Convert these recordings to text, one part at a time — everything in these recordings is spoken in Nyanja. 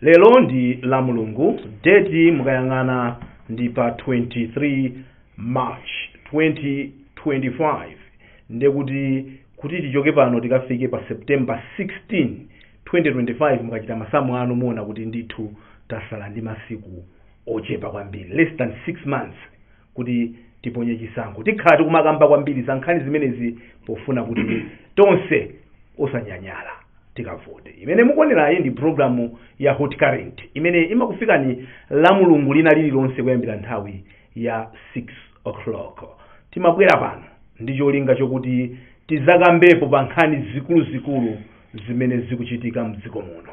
lero ndi la mulungu deti mukayang'ana ndi pa 23 march 2025 ndekuti kuti tichoke pano tikafike pa september 16 2025 mukachita masamu anu muona kuti ndithu tasala ndi masiku ochepa kwambiri less than 6 months kuti tiponye chisankho tikhala tikumakamba kwambiri za nkhani zimenezi pofuna kuti tonse osanyanyala tikavote imene mukuonerayi ndi programu ya hot current imene imakufikani la mulungu lina lililonse kuyambira nthawi ya 6 o'clock timabwera pano ndi cholinga chokuti tidzakambepo pa nkhani zikuluzikulu zimene zikuchitika mdziko muno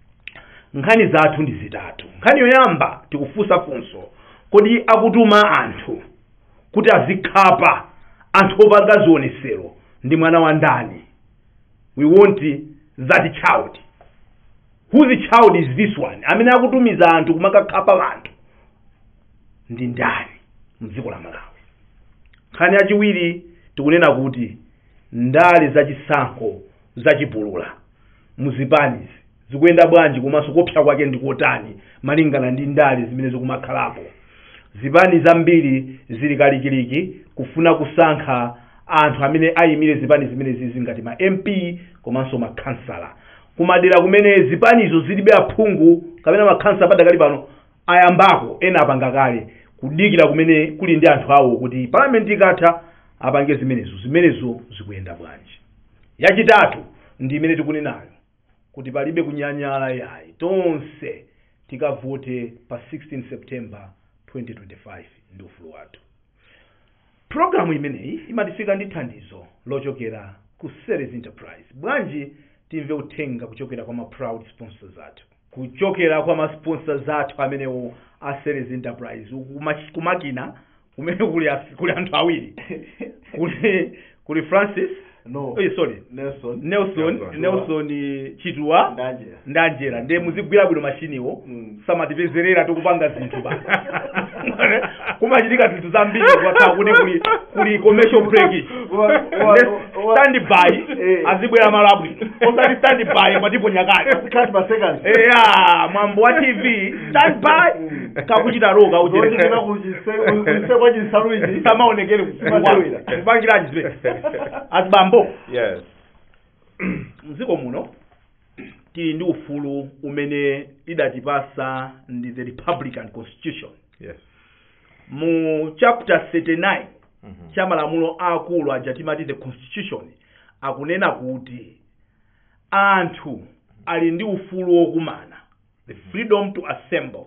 nkhani zathu ndi zitatu nkhani yoyamba tikufunsa funso kodi akutuma anthu kuti azikhapa anthu opanga zionesero ndi mwana wa ndani we want that child whose child is this one amene akutumiza anthu kumakakhapa anthu ndi ndani mdziko la malawi nkhani yachiwiri tikunena kuti ndale zachisankho zachipulula mu zipanizi zikuyenda bwanji komanso kuopsa kwake ndi kotani malingana ndi ndale zimene zikumakhalapo zipani zambiri zili kalikiliki kufuna kusankha anthu amene ayimire zipani zimenezizi ngati ma mp komanso makhansala kumadera kumene zipanizo zilibe aphungu kapena makhansala padakali pano ayambako ena apanga kale kudikira kumene kuli ndi anthu awo kuti parliament ikatha apange zimenezo zimenezo zikuyenda bwanji yachitatu ndi imene tikunenayo kuti palibe kunyanyala yayi tonse tikavote pa 16 september 2025 ndi ufulu wathu programu imeneyi imatifika ndi thandizo lochokera ku series enterprise bwanji timve uthenga kuchokera kwa ma proud sponsors athu kuchokera kwa ma sponsors athu amenewo a Series Enterprise Kuma- kumakina kumene kuli a- kuli anthu awiri kuli kuli Francis no eh, sorry Nelson Nelson Nelson. Nelson eh, Chitwa ndanje ndanjera ndiye muzigwira bwino mashiniwo Mm. samatipezerera tikupanga zinthu pa kumachitika zinthu zambiri kwatha kuti kuli kuli commercial break Wa- wa- wa- stand by Eh. izibwera malo abwino osati stand by mwatiponya kati Cut per second. eya mwambo wa tv stand by kakuchita roka Zote ujeni zina kujise- kujise kwa jinsalu ichi. samaonekere Samaonekere. kupangira jizwe azibambo yes mdziko muno tili ndi ufulu umene idatipatsa ndi the republican constitution yes mu chapter 39 Mhm. cha malamulo aakulu aja timati the constitution akunena kuti anthu ali ndi ufulu wokumana the freedom to assemble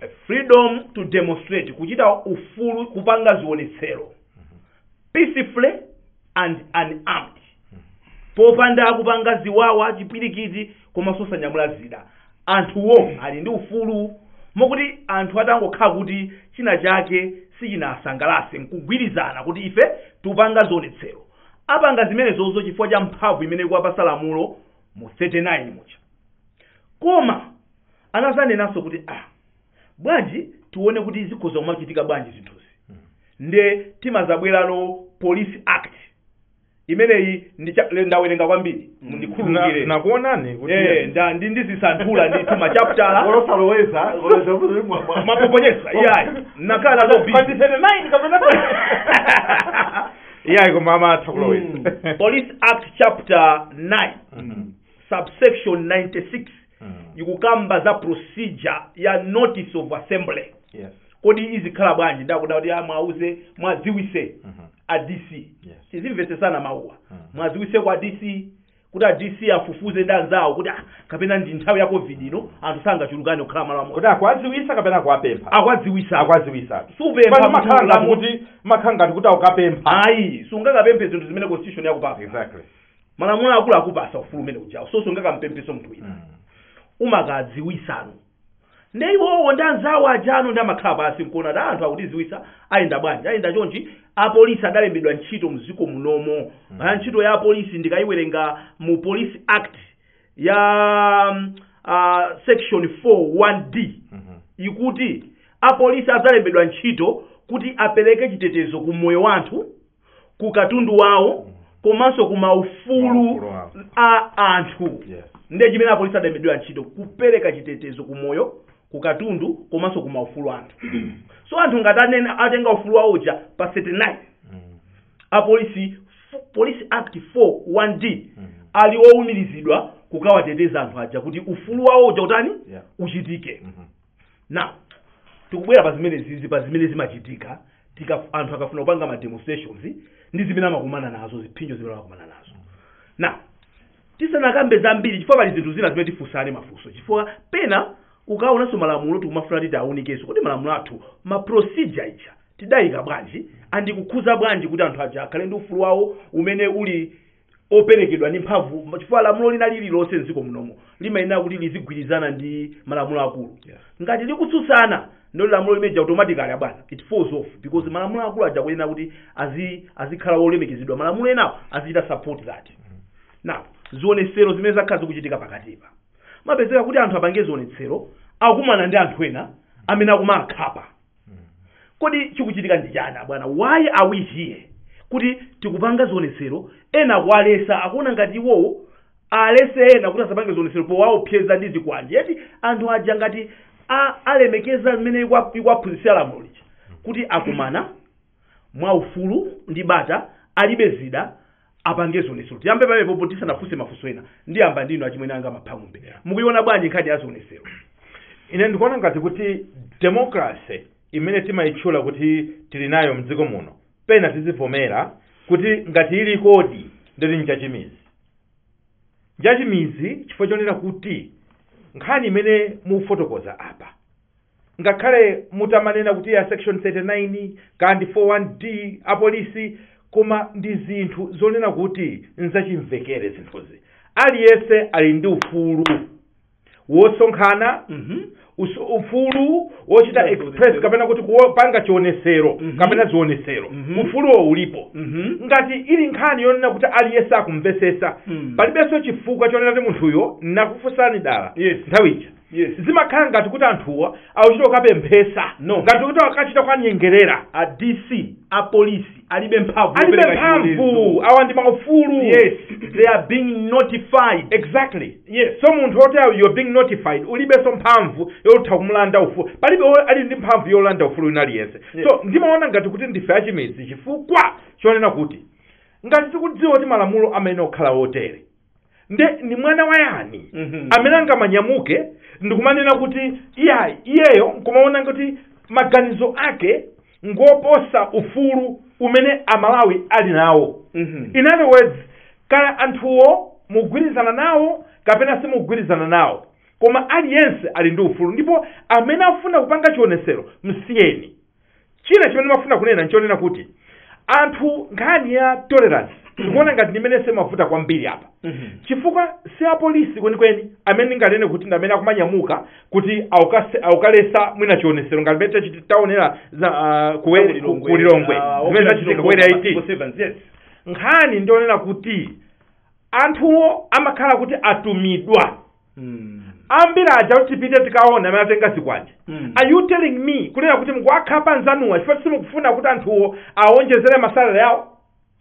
a freedom to demonstrate kuchita ufulu kupanga zionetsero peacefully and unarmed popanda kupanga ziwawa chipwirikiti komanso osanyamula zida anthuwo ali ndi ufulu mokuti anthu atangokhala kuti china chake sichinasangalase nkugwirizana kuti ife tupanga zionetsero apanga zimenezozo chifukwa cha mphamvu imene ikuwapasa lamulo mu 39 muja koma anazanenanso kuti ah bwanji tione kuti zikhoza kumachitika bwanji zinthuzi nde timazabwerano police act imeneyi ndi cha- le- ndawerenga kwambiri Na- mundikhululukire nakuonani kuti Eh, nda- ndi ndizisanthula ndithu machaputala olosaloweza ma proposition iyayi nakhala nako busy. pa 39 kapena iyayi koma amatha kuloweza police act chapter 9 subsection 96 Mm. ikukamba za procedure ya notice of assembly Yes. kodi izikhala bwanji nde akuti ah, mwauze mwadziwise Mhm. a dc Yes. tizimvetsesana mawuwa Mm. mwadziwise kwa dc kuti a dc afufuze ndi anzawo kuti ah, kapena ndi nthawi ya covid ino anthu sangachulukane kukhala malo amodzi Kuti akwaziwisa kapena akuwapempha. akwadziwisa Akwaziwisa. supempha Pano makhala ngati mutulamo- kuti makhala ngati kuti akukapempha. ayi sungakapemphe zinthu zimene constitution yakupasa Exactly. malamulo akulu akupasa ufulu umene uja so sungakampemphenso munthu wina umakadziwisano nde iwowo ndi anzawo ajano nde amakhala pasi nkuona kuti anthu akutiziwisa ayenda bwanji ayenda chonchi apolisi adalembedwa ntchito mdziko munomo mm. ntchito ya apolisi ndikayiwerenga mu police act ya mm, ah, section 41d ikuti apolisi adzalembedwa ntchito kuti apereke chitetezo ku moyo wa anthu ku katundu wawo komanso ku maufulu Maufulu awo. a anthu Yes. ndiye chimene apolisi adalembedwera ntchito kupereka chitetezo ku moyo ku katundu komanso ku maufulu a anthu so anthu ngati anena atenga ufulu wawo uja pa 39 Mm. apolisi f- police act 4 1d Mm. ali owumirizidwa kukawateteza anthu aja kuti ufulu wawo uja utani Yeah. uchitike Mhm. now tikubwera pa zimene zizi pa zimene zimachitika anthu akafuna kupanga ma demonstrations ndi zimene amakumana nazo ziphinjo zimene amakumana nazo now tisanakambe zambiri chifukwa pali zinthu zina zimene tifunsane mafunso chifukwa pena ukaonanso malamulo tikumafuna titi tiawunikenso kodi malamulo athu ma procedure ija tidayika bwanji and ikukhuza bwanji kuti anthu aja akhale ndi ufulu wawo umene uli operekedwa ndi mphamvu chifukwa lamulo lina lililonse mdziko munomo limayenera kuti lizigwirizana ndi malamulo akulu Yeah. ngati likutsutsana ndiye lamulo limeja automatically abwana it falls off because malamulo akulu aja kuyenera kuti azi azikhala wolemekezedwa malamulo enawo azichita support that now zionetsero zimene zakhala zikuchitika pakatipa kumapezeka kuti anthu apange zionetsero akumana ndi anthu ena amene akumawakhapa kodi chikuchitika ndi chani bwana why are we here kuti tikapanga zionetsero ena akuwalesa akuona ngati iwowo alese ena kuti asapange zionetsero powaopseza ndi zikwanje yet anthu aja ngati a- alemekeza mmene ikwa- ikwaphunzitsira lamulo lija kuti akumana mwaufulu ndi bata alibe zida apange zionetsero tiyambe pamenepopo tisanafunse mafunso ena ndiyamba ndinu achimwene anga maphaumbe mukuiona bwanji nkhani ya zionetsero ine ndikuona ngati kuti democracy imene timayitchula kuti tili nayo mdziko muno pena tizivomera kuti ngati ili kodi ndoti njachimizi njachimizi chifukwa chonena kuti nkhani imene mukufotokoza apa Ngakhale mutamanena kuti a section 39 kaya ndi 4 1 D apolisi koma ndi zinthu zonena kuti nzachimvekere zinthuzi. Aliyense ali ndi ufulu wosonkhana, usu- ufulu wochita express kapena kuti kupanga chionesero kapena zionesero. Ufuluwo ulipo. Ngati ili nkhani yonena kuti aliyense akumvesesa, palibenso chifukwa chonena kuti munthuyo nakufunsani dala Yes. nthawi ija. Yes. Zimakhala ngati kuti anthuwa akuchita kukapemphesa. No. Ngati kuti akachita kuwanyengerera. A DC, a polisi alibe mphamvu. Alibe yopereka mphamvu. chilolezo. Awa ndi maufulu. Yes. They are being notified. Exactly. Yes. So munthu woti you're being notified ulibenso mphamvu yotha kumulanda ufulu. Palibe wo- ali ndi mphamvu yolanda ufulu wina aliyense. Yes. So ndimaona ngati kuti ndife achimizi chifukwa chonena kuti ngati tikudziwa kuti malamulo amayenera kukhala otere. nde ndi mwana wa yani Mhm. amene angamanyamuke ndikumanena kuti iyayi iyeyo nkumaona kuti maganizo ake ngoposa ufulu umene amalawi ali nawo Mhm. in other words kaya anthuwo mugwirizana nawo kapena simugwirizana nawo koma aliyense ali ndi ufulu ndipo amene afuna kupanga chionesero msiyeni china chimene ndimafuna kunena nchonena kuti anthu nkhani ya tolerance ndikuona ngati ndimene imavuta kwambiri apa chifukwa si apolisi kwenikweni amene ndinganene kuti ndi amene akumanyamuka kuti aukase- aukalesa mwina chionesero ngati mmene tachiti- taonera za ah, kuwe- ku- Kulilongwe. kulilongwe Ah, zimene okera zachitika Chilongwe kuwera Masiku 18 sevens, yes. nkhani ndionena kuti anthuwo amakhala kuti atumidwa Mm. ambiri aja kuti tipite tikaone amene atenga zikwanje Mm. are you telling me kunena kuti mukuwakhapa anzanuwa chifukwa kuti simukufuna kuti anthuwo awonjezere masalale yawo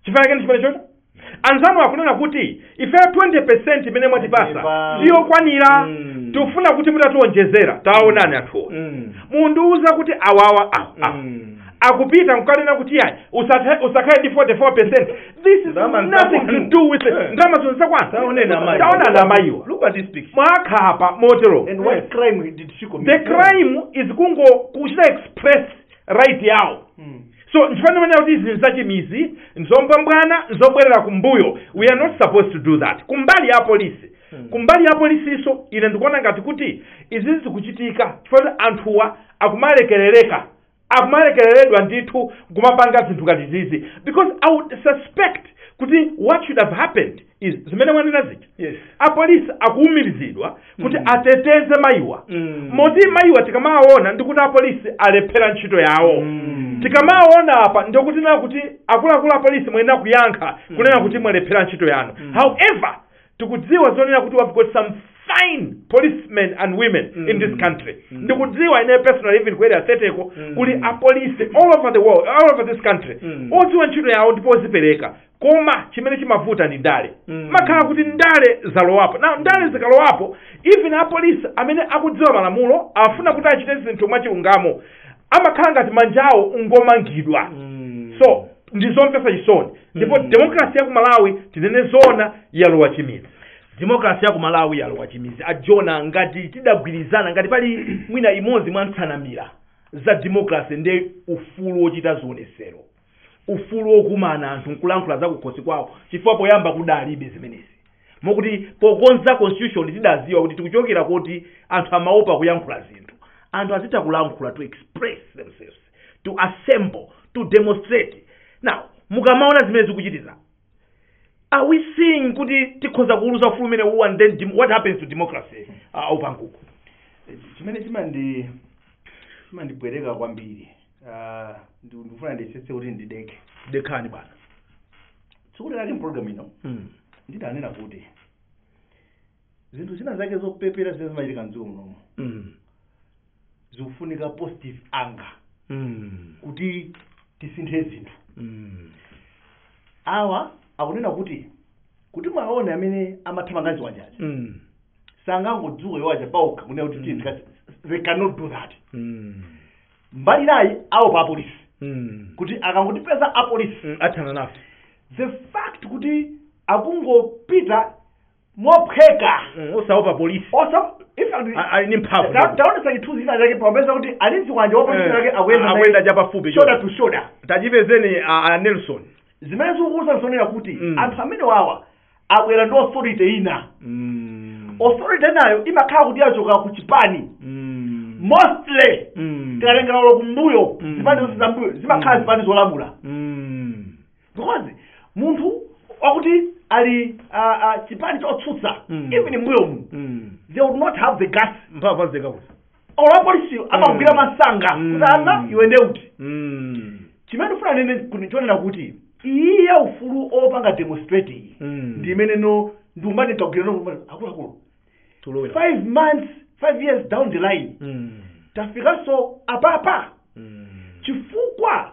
chifukwa chake ndi chimene chocho anzanu akunena kuti ifeyo 20% imene mwatipasa siyokwanira Mm. tikufuna kuti mutatiwonjezera tawaonani anthuwo Mm. mundiwuza kuti awawa awa awa Mm. akupita nkukanena kuti yayi usathe- usakhale ndi 44% this is Ndalama ni za nothing to kwanu. do with it Eh. ndalama zino zakwana taonani amayiwa Look at this picture. mwakhapa motero And what Yes. crime did she commit? the crime is kungochita express right yawo Mm. so nchifukwa ndimanena kuti izi nzachimidzi nzambwambwana nzobwerera kumbuyo we are not supposed to do that kumbali ya polisi Hmm. kumbali ya polisiso ine ndikuona ngati kuti izi zikuchitika chifukwa kuti anthuwa akumalekereredwa akumalekereredwa ndithu kumapanga zinthu ngati zizi because i would suspect kuti what should have happened is zimene mwanena zija yes apolisi akuumirizidwa kuti Mm. ateteze mayiwa Mm. moti mayiwa tikamawaona ndikuti apolisi alephera ntchito yawo Mm. tikamawaona apa ndikuti tinena kuti akuluakulu apolisi mwayenera kuyankha kunena kuti mwalephera ntchito yanu Mm. however tikudziwa zonena kuti we've got some fine policemen and women in this country ndikudziwa ine personally even ku area 30ko kuli apolisi all over the world all over this country odziwa ntchito yawo ndipo ozipereka koma chimene chimavuta ndi ndale imakhala kuti ndale zalowapo now ndale zikalowapo even apolisi amene akudziwa malamulo afuna kuti achite zinthu mwachilungamo amakhala ngati manja awo ngomangidwa so ndi zomvetsa chisoni ndipo Mm. demokrasi ya ku malawi tinene zoona yalowa chimidzi demokrasi ya ku malawi yalowa chimidzi a Jonah ngati tidagwirizana ngati pali mwina imodzi mwa nsanamira za demokrasi ndi ufulu wochita zionesero ufulu wokumana anthu nkulankhula zakukhosi kwawo chifukwa poyamba kudalibe zimenezi mokuti pokonza constitution tidadziwa kuti tikuchokera kuti anthu amaopa kuyankhula zinthu anthu azitha kulankhula to express themselves to assemble to demonstrate now mukamaona zimene zikuchitika are we seeing kuti tikhoza kuuluuza ufulu umene uwu and then dem- what happens to democracy uh, aupanguko chimene chimandi chimandibowa kwambiri Ah, ndi- ndikufuna ndiyesetse kuti ndideke dekhani bwana tsiku lake mpologalamu ino mm. ndidanena kuti zinthu zina zake zopepera zimene zimachitika mdziko munomu Mm. zikufunika positive anger Mm. kuti tisinthe zinthu Mm. awa akunena kuti kuti muwaone amene amathamanga ndi zikwanjezi Mm. sanangodzuka iwo aja paokha kunena kuti tiyeni tikati they cannot do that Mm. mbali inayi aopa apolisi Mm. kuti akangotipeza apolisi Mm. athana nafe the fact kuti akungopita mophweka Mm, osaopa polisi osa in fact A- ali ndi mphamvu ta- taonesa chithunzi china chake popeza kuti ali ndi zikwanje wa polisi Eh, chake akuyenda naye akuyenda chapafupi shoulder choncho. to shoulder tachipezani a, a nelson zimene zikukuuza zonena kuti Mm. anthu amene wawa abwera ndi authority ina mm. authority nayo imakhala kuti yachoka ku chipani mm. mostly mm. tikatengera kumbuyo Mm. zipani zonse zambuyo zimakhala Mm. zipani zolamula mm. because munthu wakuti ali ah, ah, chipani chotsutsa Mm. even mbuyo mu Mm. they would not have the guts mphamvu zakuti or apolisi amawagwira Mm. msanga Mm. kuti ana iwe nde uti Mm. chimene ndifuna ndinene ndi chonena kuti iyi ya ufulu opanga demonstrate iyi Mm. ndi imene no ndiumbani kagwira no akuluakulu tulowera five months five years down the line Mm. tafikanso apapa Mm. chifukwa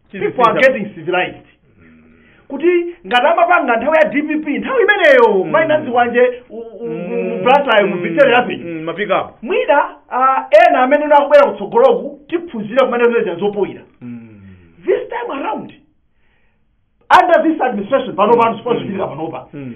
people are getting civilized kuti ngati amapanga nthawi ya dpp nthawi imeneyo mm. maina zikwanje blantyre mu victoria rapid Mm, mapiki mwina ah, ena amene nakubwera kutsogoloku tiphunzira kumene zinaja zopoyira this time around under this administration panopa mm. sipochitika panopa Mm.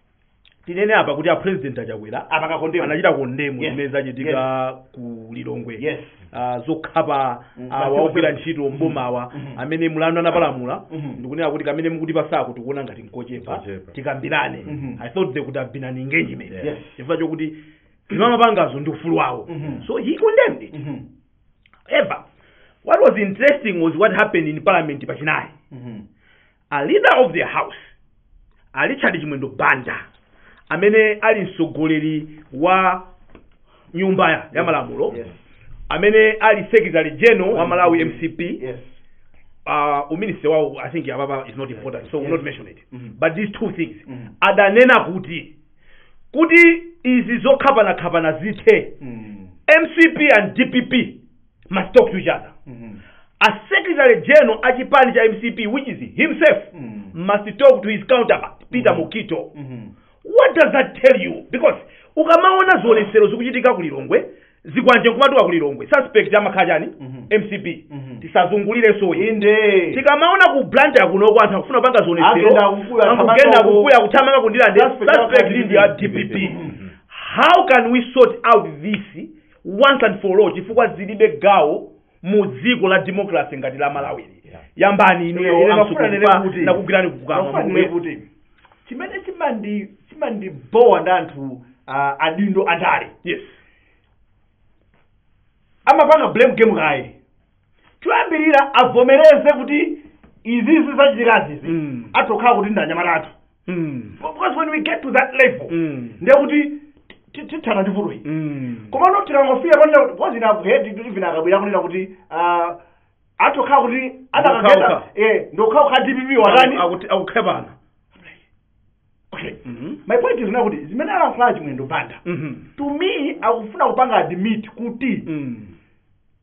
tinene apa kuti a president achakwera apanga kondemu anachita kondemu Yes. zimene zachitika ku lilongwe yes Ah, zokhapa Mm, awa basi ogwira basi. ntchito mbomawa Mhm. amene mlandu anapalamula Mhm. ndikunena kuti kamene mukutipatsako tikuona ngati nkochepa Nkochepa. tikambirane Mhm. i thought they could have been an engagement Yes. chifukwa chokuti zimene amapangazo ndi ufulu wawo Mhm. so he condemned it Mhm. however what was interesting was what happened in parliament pachinayi Mhm. a leader of the house a richard chimwendo banda amene ali mtsogoleri wa nyumba ya- ya malamulo Yes. amene ali secretary general wa malawi mcp Yes. uh, uminister wawo i think apapa is not important so we'll not mention it Mhm. but these two things Mhm. adanena kuti kuti izi zokhapanakhapana zithe Mm. mcp and dpp must talk to each other Mhm. a secretary general a chipani cha mcp which is himself Mm. must talk to his counterpart peter mukito Mhm. what does that tell you because ukamaona zionetsero zikuchitika kulilongwe zikwanje nkumatuluka kulilongwe suspect amakhala chani Mhm. mcp Mhm. tisazungulirenso iyi inde tikamaona ku blantyre kuno kwa anthu akufuna kupanga Agenda zionetsero kukuya, akugenda thamanga ku- kukuya kuthamanga ku ndirande Suspect suspect amakhala dpp Mhm. how can we sort out this once and for all chifukwa zilibe gawo mu dziko la democracy ngati la malawili Yeah. yambani Ine- inuyo ine a msuku ndimafuna ndinene kupa- kuti- ndakugwirani pakamwa Mafuna nene mukube. kuti chimene chimandi chimandibowa ndi anthu ah, adindo andale yes amapanga blame game kaye choyambirira avomereze kuti izizi zachitikazizi Mm. atokhala kuti ndanyamata athu Mm. because when we get to that level Mm. ndiye kuti ti- tithana ndi vuto iyi Mm. komano tikangofika panena kuti because ina ku HRDC even akabwera kunena kuti ah, atokhala kuti Ndokhaokha. zadakagenda eh nzokhazokha dpp watani Akuti- akukhapana okay Mhm. my point is now kuti zimene alankhula chimwendo banda Mhm. to me akufuna kupanga admit kuti Mm.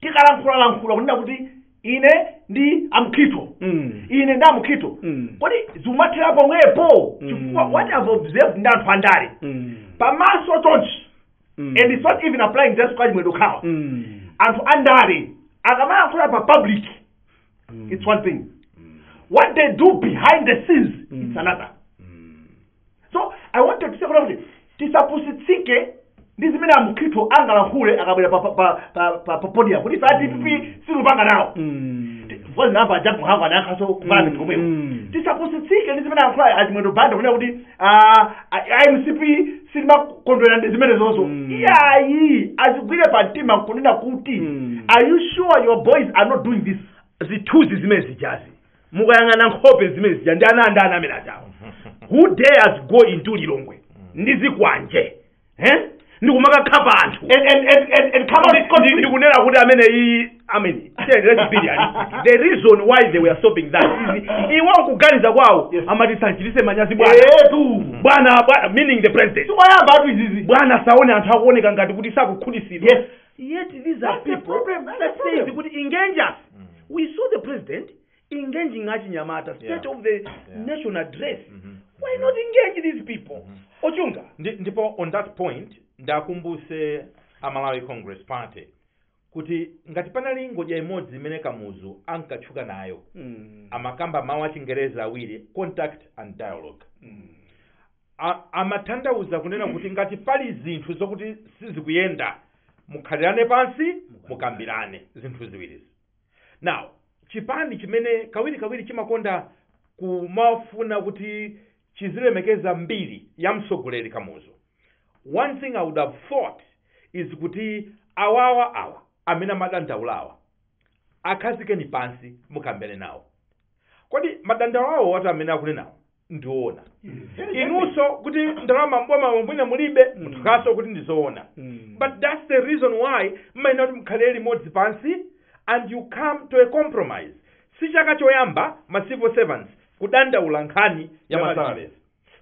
tikalankhulalankhula kunena kuti ine ndi a Mukhito Mm. ine ndi a Mukhito Mm. kodi zikumathera pomwepo Mm. chifukwa what i've observed ndi anthu andale Mm. pamaso chonchi Mm. and it's not even applying just kwa chimwendo okhawa Mm. anthu andale akamalankhula pa public Mm. it's one thing what they do behind the scenes Mm. it's another so i want to say kunena kuti tisapusitsike ndi zimene a Mukhito angalankhule akabwera pa- pa- pa- pa- pa- pa podium kuti ife a dpp sitikupanga nawo zoziyamba a Jappie Mhango anayankhaso ku parliament komweko Mm. tisapusitsike ndi zimene alankhula achimwendo banda kunena kuti ah, a- mcp sitimakondwera ndi zimene zonso Mm. iyayi azigwire pa mtima nkunena kuti Mm. are you sure your boys are not doing this zithunzi zimene zijazi mukayang'ana nkhope zimene zija ndi ana andani amene ajawo who dares go into lilongwe ndi zikwanje eh? ndi kumakakhapa anthu and and and and, and come out Ndi- ndi- scot-free. ndikunena kuti amene iyi amene the reason why they were stopping that is iwo kuganiza kwawo Yes. amati asamchititse manyazi bwana Eh, tu bwana bwana meaning the president si ayamba awatu izizi bwana asaone anthu akuoneka ngati kuti sakukhutitsidwa Yes. Yet these are That's the people problem, that's that the says problem. kuti engage us. We saw the president engaging achinyamata state Yeah. of the nation address. Why not engage these people? Ochunga. Ndi- ndipo on that point ndiwakumbutse a malawi congress party kuti ngati panali ngodya imodzi imene kamuzu ankatchuka nayo Mm. amakamba mawu achingereza awiri contact and dialogue A- amatanthauza kunena kuti ngati pali zinthu zokuti sizikuyenda mukhalirane pansi mukambirane zinthu ziwirizi now chipani chimene kawirikawiri chimakonda kumafuna kuti chizilemekeza mbiri ya mtsogoleri kamuzu one thing i would have thought is kuti awawa awa amene amadandaulawa akhazikeni pansi mukambirane nawo kodi madandaulo awowa atu amene akunenawo ndi oona inunso kuti ndalama mbomamo mwina mulibe muvutikanso kuti ndizoona but that's the reason why mmayenera kuti mukhalire limodzi pansi and you come to a compromise si chaka choyamba ma civil servants kudandaula nkhani ya Ya masalary masalary.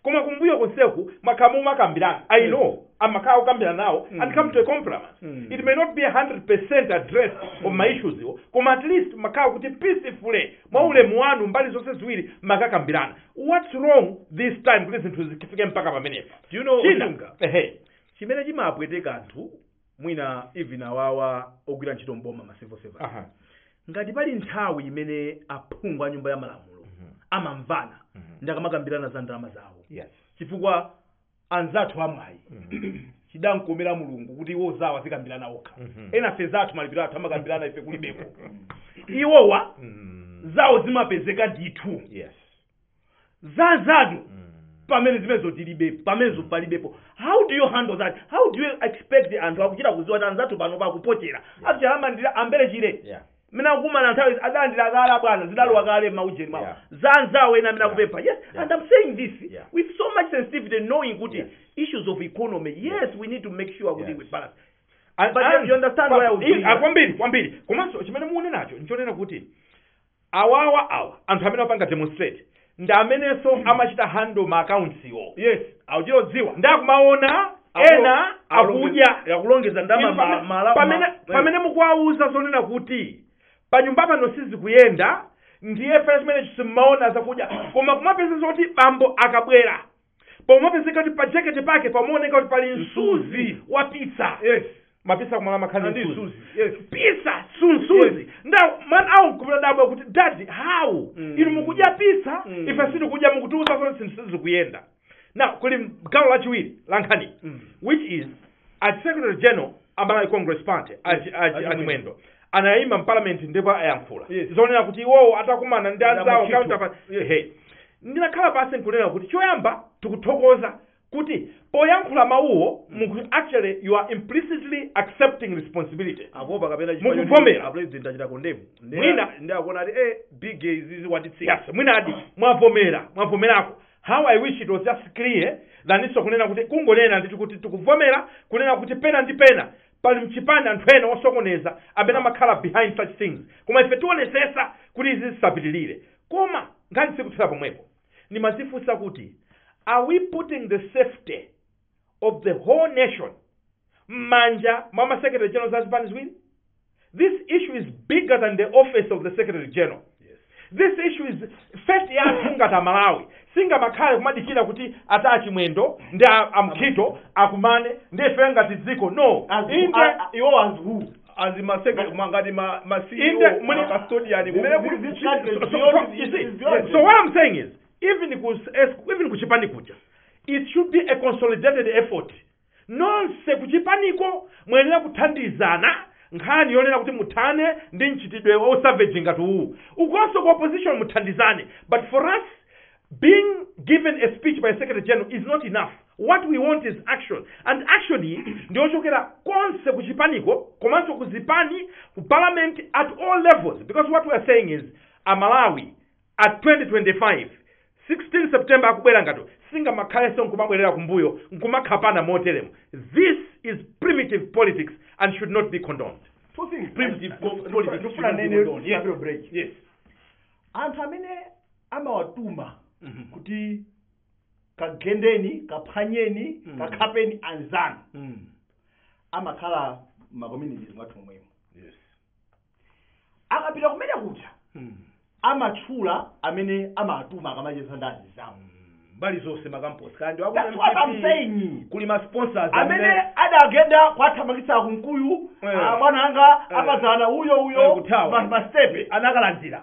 koma kumbuyo konseku mwakhala mumakambirana i know amakhala akukambirana nawo and come to a compromise it may not be 100 address of ma issues awo koma at least makhala kuti peacefully mwa ulemu wanu mbali zonse ziwiri makakambirana what's wrong this time kuti zinthu zifike mpaka pamenepa Do you know chimene chimapweteka anthu mwina even awawa ogwira ntchito mboma ma civil servants Aha. ngati pali nthawi imene aphungu a nyumba ya malamulo amamvana ndi akamakambirana za ndalama zawo yes chifukwa anzathu amwayi chidawakomera mulungu kuti iwo zawo azikambirana okha enafe zathu malipiro athu amakambirana ife kulibepo iwowa zawo zimapezeka ndithu yes za zathu pamene zimenezo tilibe pamenezo palibepo how do you handle that how do you expect anthu akuchita kuziwa kuti anzathu pano pakupochera akuchita alandira ambere chire yeah mmene akukumana nthawi adalandira kale abwana zidalowa kale mma ujeni mwawo za anzawo ena amene akupempha yes and i'm saying this with so much sensitivity knowing kuti issues of economy yes we need to make sure kuti we balance And- But and- you understand but- why I would be i- ah, here. kwambiri kwambiri komanso chimene munenacho nchonena kuti awawa awa anthu amene apanga demonstrate ndi amenenso amachita handle ma accounts iwo yes akuchita kudziwa nde akumaona ena akudya akulongeza ndalama Inu ma- pamene- mala pamene ma- pamene mukuwauza zonena kuti panyumba pano sizikuyenda ndiye pamene ife sitimaona zakudya koma nkumapeza zoti bambo akabwera pomapezeka kuti pa jekete pake pamaoneka kuti pali msuzi Msuzi. wa pizza yes mapisa kumala amakhala ndi msuzi suzi yes pizza sunsuzi nde mwana akumadabwa kuti dadi how Mm. inu mukudya pizza Mm. ife sitikudya mukutiuza kuti zinthu sizikuyenda now kuli gawo lachiwiri la nkhani Mm. which is a secretary general a malawi congress party a Chi- a Chi- a chimwendo anayima mparliament ndipo ayankhula Yes. zonena kuti iwowo atakumana ndi anzawo Ndamuchitu. counterpart Yes. Ehe. ndinakhala pansi nkunena kuti choyamba tikuthokoza kuti poyankhula mawuwo muku actually you are implicitly accepting responsibility akuopa kapena Mukuvomera. a president achita condemn Mwina. ndi akuona ati eh big izizi watitsika yes mwinadi mwavomera mwavomerako How I wish it was just clear than iso kunena kuti kungonena ndithu kuti tikuvomera kunena kuti pena ndi pena pali mchipani anthu ena osokoneza amene amakhala behind such things koma ife tionesesa kuti izi zisapitilire koma nkhani sikuthera pomwepo ndimazifunsa kuti are we putting the safety of the whole nation m'manja mwa ma secretary general a zipani ziwiri this issue is bigger than the office of the secretary general this issue is first yathu ngati amalawi singamakhale kumadikira kuti ata achimwendo ndi a- amkhito akumane nde ife ngati dziko no inde iwo as who as masecretary ngati ma ma Inde, CEO muli- ma custodian kumene kuli This- this country is so, so, beyond- you see, is beyond- so what i'm saying is even ku S- even kuchipani kuja it should be a consolidated effort nonse kuchipaniko muyenera kuthandizana nkhani yonena kuti muthane ndi mchitidwe wa savage ngati uwu ukonso ku opposition muthandizane but for us being given a speech by secretary general is not enough what we want is action and actually ndiyochokera konse kuchipaniko komanso kuzipani ku parliament at all levels because what we are saying is amalawi at 2025 16 September akubwera ngati singamakhalenso nkumabwerera kumbuyo nkumakhapana moteremo this is primitive politics and should not be condoned Two things. primitive po- Ndikufuna- politics should ndikufuna not be nene condoned yes Gabriel Break. yes anthu amene amawatuma kuti kagendeni kaphwanyeni Mm. kakhapeni anzanu mm. amakhala ma communities mwathu momwemo yes akapita kumene kuja Mm. amatchula amene amawatuma akamacheza ndi anzawo mbali zonse makamposi kandi wa ku That's what I'm MPP, saying. kuli ma sponsors amene adagenda kwathamangitsa kunkuyu Eh. abwana anga Eh. apazana uyo Eh, uyo kuthawa. ma- mastepe anakalandira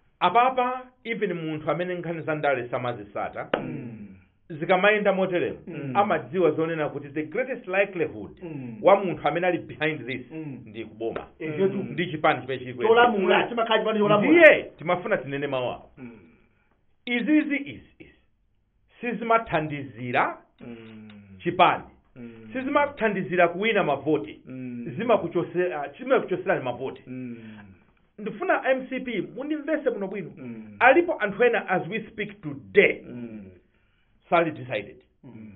apapa even munthu amene nkhani za ndale samazisata zikamayenda moteremo Mm. amadziwa zonena kuti the greatest likelihood Mm. wa munthu amene ali behind this Mm. ndi kuboma Ehe, tu. ndi chipani chimene chili kuyenda. cholamula chimakhala chipani cholamula ndiye timafuna tinene mawu awo Mm. izizi izi izi sizimathandizira Mm. chipani Mm. sizimathandizira kuwina mavoti Mm. zimakuchose- ah, zimakuchoserani mavoti Mm. ndifuna mcp mundimvese bwino bwino Mm. alipo anthu ena as we speak today Mm. sali decided Mm.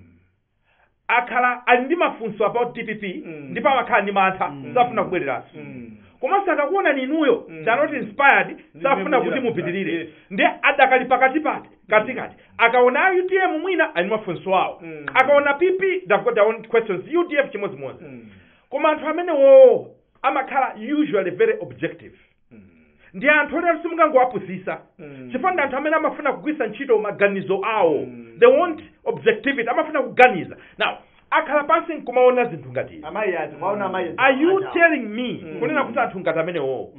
akhala ali ndi mafunso about dpp Mm. ndipo amakhala ndi mantha Mm. safuna kubwereranso Mm. komanso akakuonani inuyo Mm. they are not inspired Ndi safuna mmene kuti muchita. mupitirire Yes. ndi adakali pakati pati katikati akaona utm mwina ali ndi mafunso awo Mm. akaona pp they've got their own questions udf chimodzimodzi Mm. koma anthu amenewo amakhala usually very objective ndi anthu oti simungangowapusisa chifukwa ndi anthu amene amafuna kugwiritsa ntchito maganizo awo they want objectivity amafuna kuganiza now akhala pansi nkumaona zinthu ngati izi. amayi ati mwaona amayi are you telling me kunena kuti anthu ngati amenewo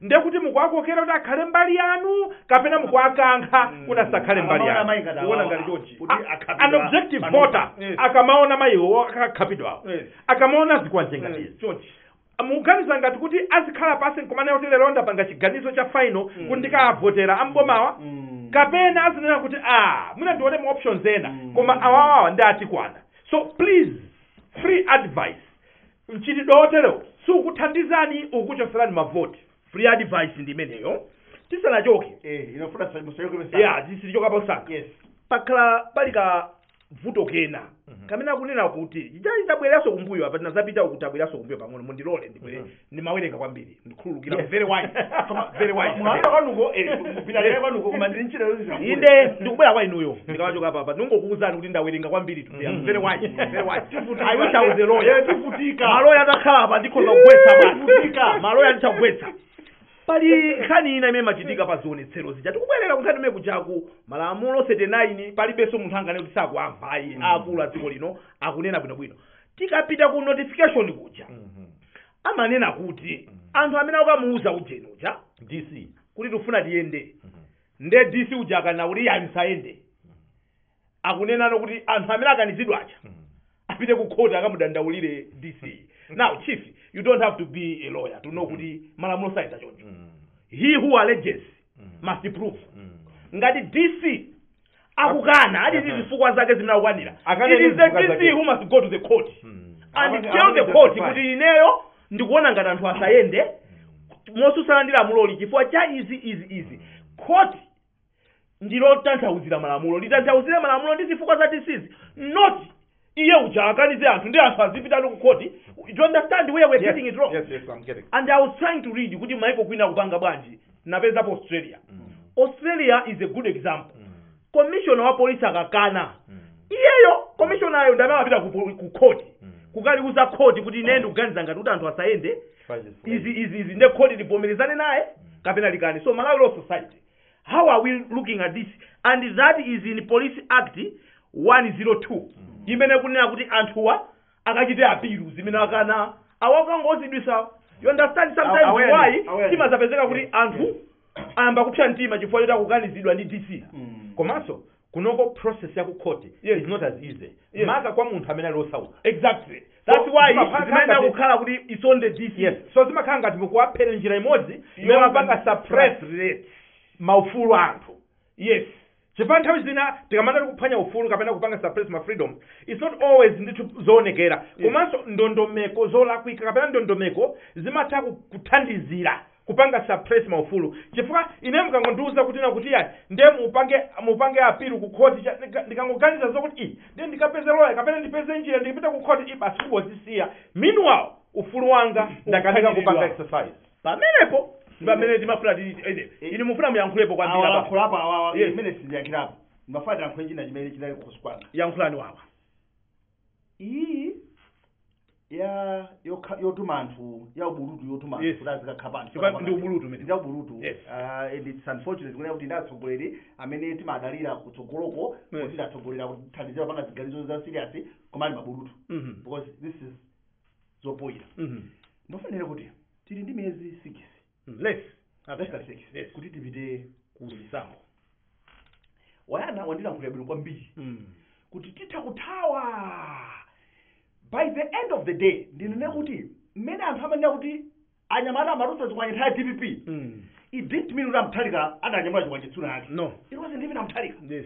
ndiye kuti mukuwakokera kuti akhale mbali yanu kapena mukuwakankha kuti asakhale mbali Amaona amayi yanu ngati Kuona awawa. ngati chonchi. Kuti A- akhapidwa an objective panopa. voter Yes. akamaona mayiwo akakhapidwawo Yes. akamaona zikwanje ngati izi chonchi mukuganiza ngati kuti azikhala pasi nkumanena kuti lero ndapanga chiganizo cha final Mm. kuti ndikavotera ambomawa Mm. kapena azinena kuti ah mwina ndione ma options ena Mm. koma awawawa ndiye atikwana so please free advice mchitidwe woterowo siukuthandizani ukuchoserani mavoti free advice ndi imeneyo tisanachoke Eh, inofuna sasa mshauri kwa ya sasa. tisichoka pausanga Yes. pakhala pali ka vuto kena Mhm. kamene akunena kuti chitali tibwererenso kumbuyo apa tinazapita uku tabwereranso kumbuyo pang'ono mundilole ndibwere Mhm. ndimawerenga kwambiri ndikhululukire Yes. very wise koma very wise Mwaona kwanuko eh, kupita lero kwanuko koma ndiri ntchito yonse zakule. inde ndikubwera kwa inuyo ndikamachoka pa apa ndingokuwuzani kuti ndawerenga kwambiri today I'm very wise very wise Tivutika. I wish I was a lawyer Eh, tivutika. maloya atakhala apa nditha kuwagwetsa basi Tivutika. maloya nditha kuwagwetsa Pali nkhani ina imene imachitika pa zionetsero zija. Tikubwerera ku nkhani kumene kujaku, Malamulo 39 palibenso munthu anganene kuti sakuwamva ayi. Mm. Aakulu a dziko lino akunena bwinobwino. Tikapita ku notification kuja, amanena kuti anthu amene akamuuza ujeni uja DC. kuti tifuna tiyende. Nde DC uja akanena kuti ayi musayende. akunenano kuti anthu amene akanizidwa aja apite ku court akamudandaulire dc now chief you don't have to be a lawyer to know kuti malamulo sayenda choncho he who alleges must prove ngati dc akukana ali ndi zifukwa zake zimene akukanira it Akane ndi is the zifukwa dc zake. who must go to the court and Akane- tell the akane court justify. kuti ineyo ndikuona ngati anthu asayende motsutsana ndi lamuloli chifukwa cha izi izi izi court ndilo lotanthauzira malamulo litanthauzire malamulo ndi zifukwa za dc zi not iye uja akanize anthu nde anthu azipitano ku khoti you understand where we're Yes, getting it wrong yes, yes, I'm getting. and i was trying to read kuti maiko kwina akupanga bwanji ndapezapo australia australia is a good example commissioner wa polisi akakana iyeyo commissionayo ndamene amapita ku poli- ku khoti kukaliuza khoti kuti ine ndikuganiza ngati kuti anthu asayende izi izi izi nde khoti livomerezane naye kapena likane so malawi law society how are we looking at this and that is in police act 102 imene ikunena kuti anthuwa akachite appeal zimene akana awakangozidwisa you understand sometimes Awareness, why awareness. zimazapezeka kuti anthu ayamba kupsa mtima chifukwa choti akukanizidwa ndi dc komanso kunoko process ya ku court Yes. is not as easy Yes. maka kwa munthu amene ali osauka exactly So, that's why zimapanga zimayenera ngati- kukhala kuti it's on the dc yes so zimakhala ngati mukuwaphera njira imodzi imene mumapanga suppress eti maufulu a anthu yes chifukwa nthawi zina tikamati kuphwanya ufulu kapena kupanga suppress ma freedom it's not always zinthu zoonekera komanso ndondomeko zolakwika kapena ndondomeko zimatha ku- kuthandizira kupanga suppress ma ufulu chifukwa ine mkangondiuza kuti na kuti yayi nde mupange mupange appeal ku court cha- nika- ndikangoganiza zokuti i nde ndikapeze lawyer kapena ndipeze njira ndipite ku court i basi kungozisiya meanwhile ufulu wanga ndakanika kupanga Uphwanyidwa. exercise pamenepo ndi pamene timafuna ti- ene, inu mufuna muyankhulepo kwambiri apa. awalankhulapo awawa Yes. ine sindiyankhirapo ndimafuna ndiyankhe china chimene chinali kukhosi kwanga yankhulani wawa iyi ya yokha- yotuma anthu ya ubulutu yotuma anthu Yes. kuti azikakhapana Chifukwa ndi ubulutu umene. ndi ubulutu Yes. Ah, and it's unfortunate kunena kuti ndi atsogoleri amene timadalira kutsogoloko Yes. kuti adzatsogolera kutithandizira kupanga ziganizo za serious koma ali mabulutu Mhm. because this is zopoyira Mhm. ndifuna ndinene kuti tili ndi miyezi 6 Mm, Less. Less actually. 36 Yes. kuti tipite ku chisankho wayana wandilankhulira bwino kwambiri Mm. kuti titha kuthawa by the end of the day ndinene kuti mmene anthu amanena kuti anyamata amatulutsa zikwanje nthawi ya dpp Mm. it didn't mean kuti a mutharika adanyamula chikwanje tsiku linalake No. it wasn't even a mutharika Yes.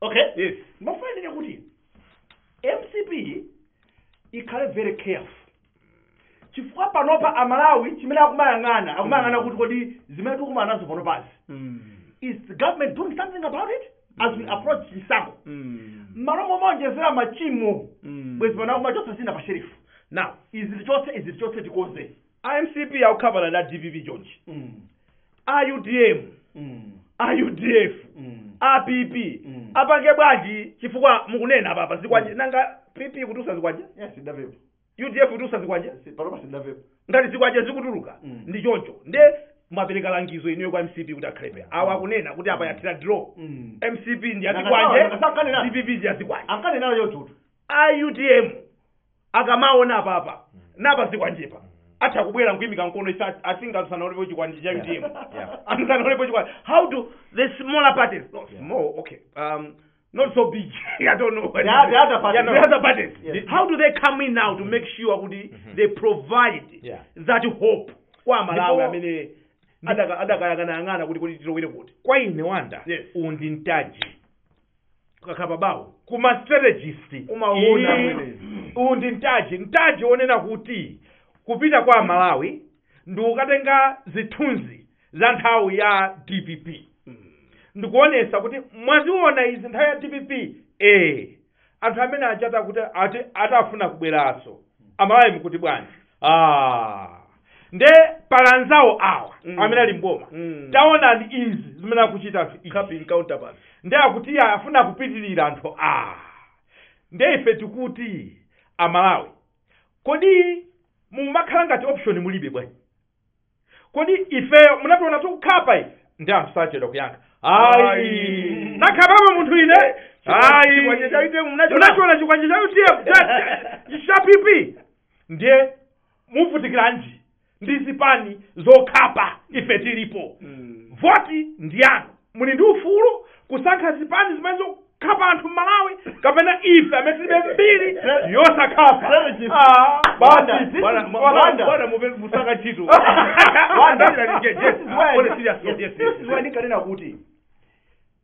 okay yes ndimafuna ndinene kuti mcp ikhale very careful chifukwa panopa amalawi chimene akumayang'ana akumayang'ana kuti kodi zimene tikumana nazo panopazi Mm. is the government doing something about it as we approach chisankho Mm. mmalo momaonjezera machimo Mm. bwezi pano akumachotsa zina pa shelefu now izi tichotse izi tichotse tikonze a mcp akukhapana ndi a dpp chonchi Mm. a utm Mm. a udf Mm. a pp Mm. apange bwanji chifukwa mukunena apa pa zikwanje nanga pp ikutulutsa zikwanje Yes, sindamvepo. udf ikutulutsa zikwanje Si- Panopa sindamvepo. ngati zikwanje zikutuluka Mm. ndi choncho nde mwapereka langizo inuyo kwa mcp kuti akhale phee awo akunena kuti apa yathira draw Mm. mcp ndi Nanga- nanga- nanga- yazikwanje dpp ndi yazikwanje Ankane nayo yotutu. a utm akamaona apapa napa zikwanjepa atha kubwera nkuyimika mkono ife at- asinga tisanaonepo chikwanje cha utm Yeah. tisanaonepo chikwanje how do the smaller parties no small okay um, not so big i don't know The other- the other parties. Yeah, no, the other parties Yes. how do they come in now to make sure kuti they provide Yeah. that hope kwa amalawi Ndipo- amene adaka- adakayang'anayang'ana kuti kuti tilowere kuti kwa ine wonder Yes. uwu ndi mtaji ukakhala pa bawo ku ma strategist Umaona Ii, ameneyo. uwu ndi mtaji mtaji wonena kuti kupita kwa amalawi ndi kukatenga zithunzi za nthawi ya dpp ndikuonesa kuti mwaziona izi nthawi ya dpp ee anthu amene aja akuti ati akufuna kubweranso amalawi mukuti bwanji ah nde pali anzawo awa Mm. amene ali mboma Mm. taonani izi zimene akuchita anthu izi. Khaping counterpart. nde akuti iye afuna kupitirira anthu a nde ife tikuti aMalawi kodi mumakhala ngati option mulibe bwanji kodi ifeyo munationa tikukhapa ife ndi anthu sachedwa kuyankha ayi Ayi. ndakhapapo munthu ine ayi Chikwanje cha UTM munachiona? munachiona chikwanje cha UDF cha PP ndiye muvutikilanji ndi zipani zokhapa ife tilipo voti ndi yanu muli ndi ufulu kusankha zipani zimene zokhapa anthu Malawi kapena ife amene tilibe mbiri yosakhapa Ah, basi, this is- Bwana, mu- Wanda. bwana, muve- musaka ntchito Wanda. Yes, yes, This is why- only serious, yes, yes, yes, yes, yes. this is why ndikanena kuti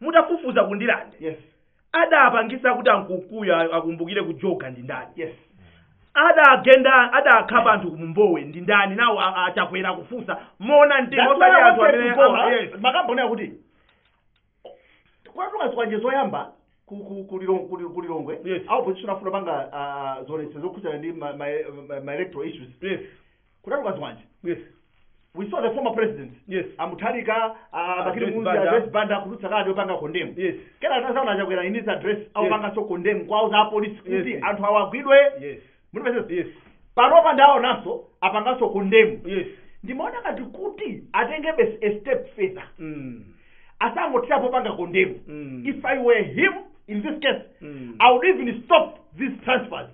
mutafufuza ku Ndirande Yes. adapangitsa kuti a Nkunkuyu a- akumbukire kujoga ndi ndani Yes. adagenda adakhapa anthu ku Mbowe ndi ndani nawo a- a Chakwera kufunsa mona mtima That's why osati I anthu wanted amene to go, ama- huh? yes. makamboneyo akuti kwatuka zikwanje zoyamba ku- ku- ku Lilong- ku Lil- ku Lilongwe Yes. a opposition afuna panga ah, zonsezo zokhudzana ndi ma- ma- ma- ma electoral issues yes Kutatuka zikwanje. Yes. We saw the former presidents. Yes. A Mutharika, a Bakili Joyce Muluzi, a Banda. Joyce Banda kutulutsa kalata yopanga condemn. Yes. Kena tazaona a Chakwera in this address akupanganso condemn kuwauza apolisi kuti Yes. anthu awa agwidwe. Yes. Mutipesesa. Yes. Panopa ndaonanso apanganso condemn. Yes. Ndimaona ngati kuti atengebe a step further. Mm. asangothera popanga condemn Mm. if i were him in this case Mm. i would even stop these transfers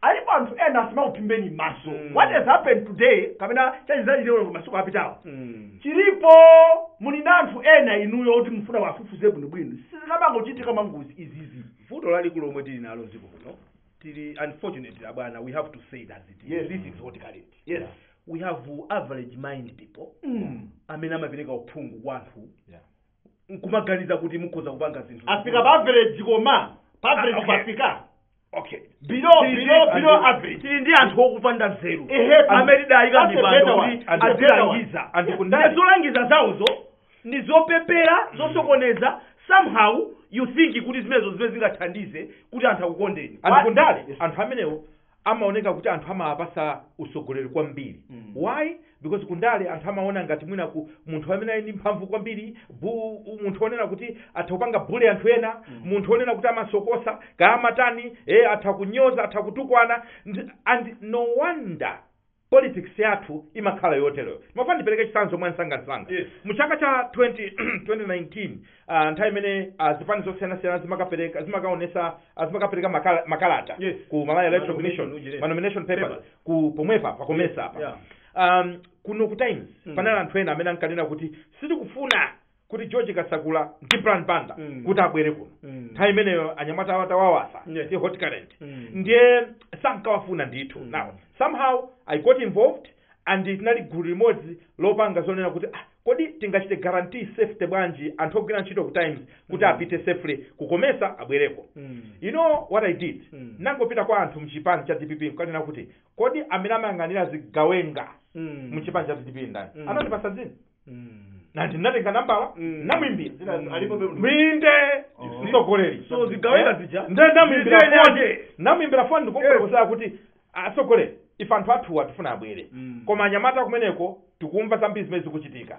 alipo anthu ena asamakuphimbeni maso Mm. what has happened today kapena chachitika masiku apitawo Mm. chilipo muli ndi anthu ena inuyo kuti mufuna muwafufuze bwinobwino sizikamangochitika mangozi izizi vuto lalikulu lomwe tili nalo dziko muno tili unfortunately abwana we have to say it as it is Yes. this is what current yes we have average mind people mm. amene amapereka uphungu kwa anthu Yeah. nkumaganiza kuti mukhoza kupanga zinthu safika pa average koma pa average Okay. pafika okay below Tili ndi- below below andi- average tili ndi anthu okupanda nzeru Ehe, amene tidawayika that's m'mipando better one. kuti That's a better azilangiza one. And kundali- Ndi zolangiza zawozo ndi zopepera zosokoneza somehow you think kuti zimenezo zimene zingathandize kuti anthu akukondeni And kundale anthu amenewo amaoneka kuti anthu amawapatsa utsogoleri kwambiri Mm. why because kundale anthu amaona ngati mwina ku munthu amene ali ndi mphamvu kwambiri bu, u- munthu onena kuti atha kupanga bully anthu ena Mm. munthu onena kuti amasokosa kaya amatani eh, atha kunyoza atha kutukwana Ndi- and no wonder politics yathu imakhala yoteroyo ndimafuna ndipereke chitsanzo mwa nsangansanga Yes. mu chaka cha 20, 2019 uh, nthawi imene uh, zipani zosiyanasiyana zimakapereka zimakaonesa uh, zimakapereka makala, makalata Yes. ku malawi electoral Manomination, commission ujire. manomination papers Papers. ku pomwepa pa Comesa apa Yeah. um, kuno ku times Mm. panali anthu ena amene ankanena kuti sitikufuna kuti george kasakula ndi Brian Banda Mm. kuti abwere kuno Mm. nthawi imeneyo anyamata awo atawawasa Yeah. ndi hot current Mm. ndiye sankawafuna ndithu Mm. now somehow i got involved and tinali gulu limodzi lopanga zoona kuti ah, kodi tingachite guarantee safety bwanji anthu ogwira ntchito ku times kuti Mm. apite safely ku Comesa abwereko Mm. you know what i did Mm. nangopita kwa anthu mchipani cha dpp nkanena kuti kodi amene amayang'anira zigawenga Mm. mchipani cha dpp ndani Mm. anandipasa dzina nati ndinatenga nambala namwimbira mwinde mtsogoleri Wa zigawenga zija. nde namwimbira Zija foni yake. namwimbira foni ndikumfotokozera kuti atsogoleri ife anthu athuwa tifuna abwere koma anyamata kumeneko tikumva zambiri zimene zikuchitika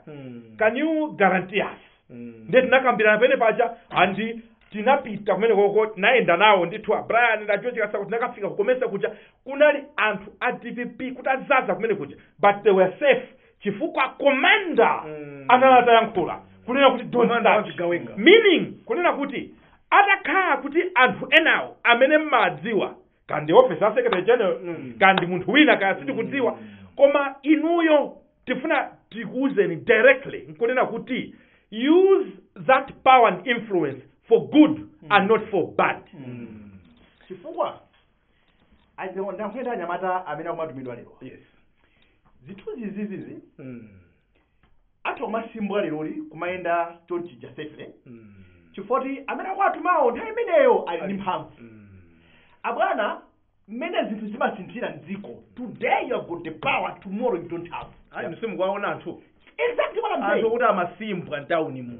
can you guarantee us ndiye tinakambirana pene paja andi tinapita kumeneko tinayenda nawo ndithu a brian na george kasakula tinakafika ku Comesa kuja kunali anthu a dpp kuti azaza kumene kuja but they were safe chifukwa commander Mm. anali atayankhula kunena kuti don't Commander wa touch. zigawenga. meaning kunena kuti atakhala kuti anthu enawo amene mmadziwa kaya ndi office ya secretary general Mm. kaya ndi munthu wina kaya sitikudziwa koma inuyo tifuna tikuuzeni directly nkunena kuti use that power and influence for good and not for bad chifukwa Ayi, ndakuenda anyamata amene akumatumidwa lero yes zithunzi izizizi mm. atha kumashimbwa leroli kumayenda chonchija safely Mm. chifukwa kuti amene akuwatumawo nthawi imeneyo ali ndi mphamvu Mm. abwana mmene zinthu zimasinthira mdziko today you have got the power tomorrow you don't have ayi simukuwaona anthu exactly what i'm anthu saying kuti amashimbwa mtawuni muno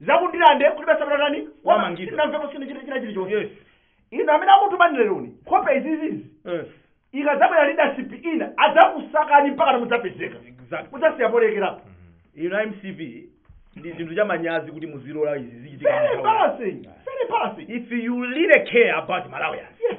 za ku Ndirande kuti basa tatani Wamangidwa. sinamvepo china china chilichonse yes inu amene akutumani leroni nkhope izizizi yes ikadzabwera leadership ina adzakusakani mpaka mudzapezeke exactly mudzasiya polekerapo inu mcp ndi chinthu cha manyazi kuti muzilola izi zichitika very mu nthawi. embarrassing very embarrassing if you really care about malawians yes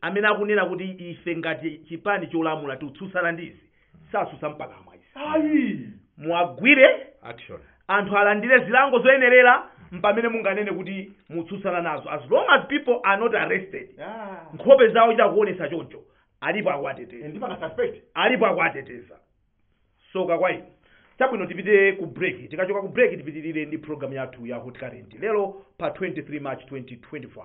amene akunena kuti ife ngati chipani cholamula tikutsutsana ndi izi satsutsa mpakamwa izi ayi muwagwire action anthu alandire zilango zoyenerera mpamene munganene kuti mutsutsana nazo as long as people are not arrested Ah. nkhope zawo kuchita kuonesa choncho alipo Eh, akuwateteza ndipo ma suspect alipo akuwateteza soka kwa inu chabwino tipite ku break tikachoka ku break tipitirire ndi program yathu ya hot current lero pa 23 march 2025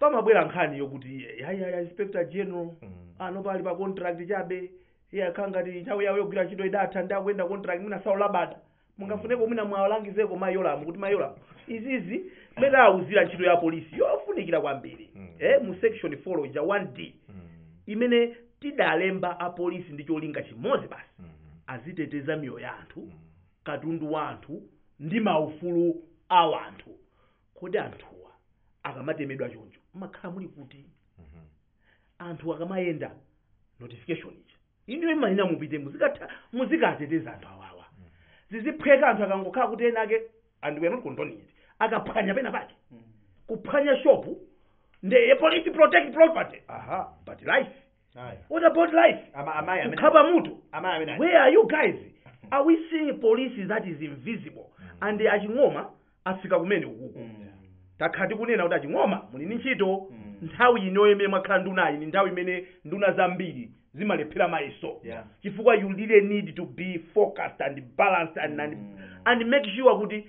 pamabwera nkhani yokuti ya Inspector general Mm. anowa ali pa contract chabe ndiye akukhala ngati nthawi yawo yogwira ntchito idatha ndi akuyenda contract mwina saulabada mungafuneko mwina muwalangizeko a Yolamu kuti a Yolamu izizi mmene awuzira ntchito ya polisi yofunikira kwambiri Mm. eh, mu section 4 ija 1d Mm. imene tidalemba apolisi ndi cholinga chimodzi basi Mm. aziteteza miyoyo ya anthu katundu wa anthu ndi maufulu a anthu kodi anthuwa akamatemedwa choncho mmakhala muli kuti Mhm. anthu akamayenda notification ija ija imanena mupite muzikatha muzikateteza anthu awawa ziziphweka anthu akangokhala kuti wina wake and we are not condoning it akaphwanya pena pake kuphwanya shopu ndiye police protect property aha but life Ayi. what about life Ama- amayi amene- kukhapa mutu amayi amene aja. where are you guys are we seeing police that is invisible and a Ching'oma afika kumene ukuku Mm. takhala tikunena kuti a Ching'oma muli ndi ntchito Mm. nthawi inoyo imene mwakhala ndunayi ni nthawi imene nduna zambiri zimalephera mayeso Yeah. chifukwa you really need to be focused and balanced and, and, Mm. and make sure kuti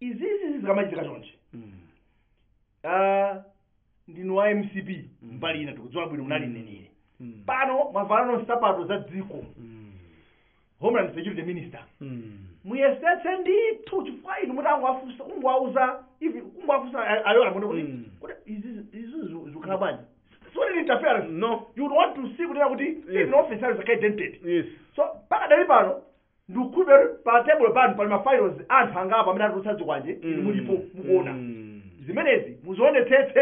izizi zikamachitika chonchi ah, ndinu wa mcp mbali ina tikudziwa bwino munali mneneri pano mwavalano nsapato za dziko homeland security minister muyesetse ndithu chifukwa inu mutangowafunsa kungowauza ivi kungowafunsa a Yolamu kuti Mm. kuti izi izi zu- zikhala bwanji sikuti ni interference no you would want to see kuti kuti Yes. even officers are identified yes so pakadali pano Ndikukhulupirira kuti pa tebulo panu pali ma files a anthu angapo amene anatulutsa zikwanje inu mulipo mukuona. Zimenezi muzionetsetse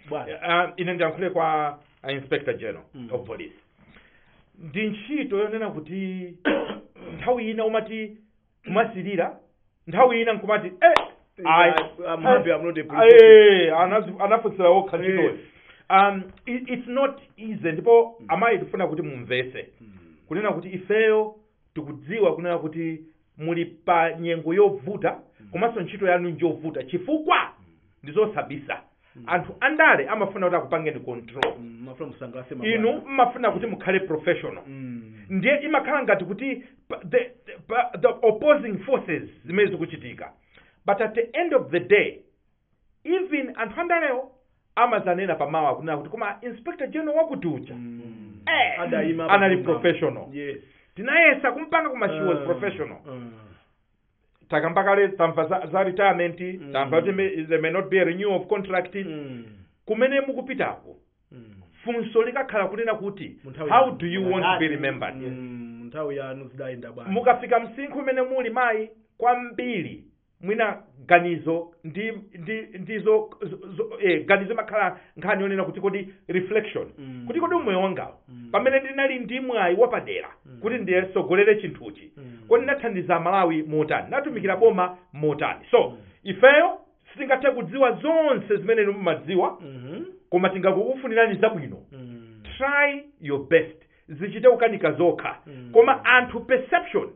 bwana. Ah, ine ndiyankhule kwa ah, inspector general of police ndi ntchito yonena kuti nthawi ina umati kumasirira nthawi ina nkumati eh, ayi, I'm happy I'm not a police officer. eh, anazi- anafunsira okha ntchitoyo Eh. um, it, it's not easy ndipo amayi tifuna kuti mumvese kunena kuti ifeyo tikudziwa kunena kuti muli pa nyengo yovuta komanso ntchito yanu njovuta chifukwa ndizosabisa anthu andale amafuna kuti akupangeni control Mm, amafuna musangalatse mabwana. inu mmafuna kuti mukhale professional Mm. ndiye imakhala ngati kuti pa- the, the, pa- the opposing forces zimene zikuchitika but at the end of the day even anthu andalewo amadzanena pamawa kunena kuti koma inspector general wakuti uja Mm. Eh, Adayima anali pamwamba. professional Yes. tinayesa kumpanga koma she was Ah. professional Ah. takamba kale tamva za, za retirement Mm. tamva kuti may- there may not be a renewal of contract Mm. kumene mukupitako Mm. funso likakhala kunena kuti Mu nthawi how yanu. do you want to be remembered Mm, mu nthawi yanu zidayenda bwanji mukafika msinkhu umene muli mayi kwambiri mwina ganizo ndi ndi ndizo zo- zo- eh, ganizo imakhala nkhani yonena kuti kodi reflection Mm. kuti kodi umoyo wangawo Mm. pamene ndinali ndi mwayi wapadera Mm. kuti ndiyetsogolere chinthuchi Mm. kodi nathandiza malawi motani natumikira boma motani so Mm. ifeyo sitingathe kudziwa zonse zimene inu mumadziwa Mhm. koma tingokufunirani zabwino Mm. try your best zichite kukanika zokha Mm. koma anthu perception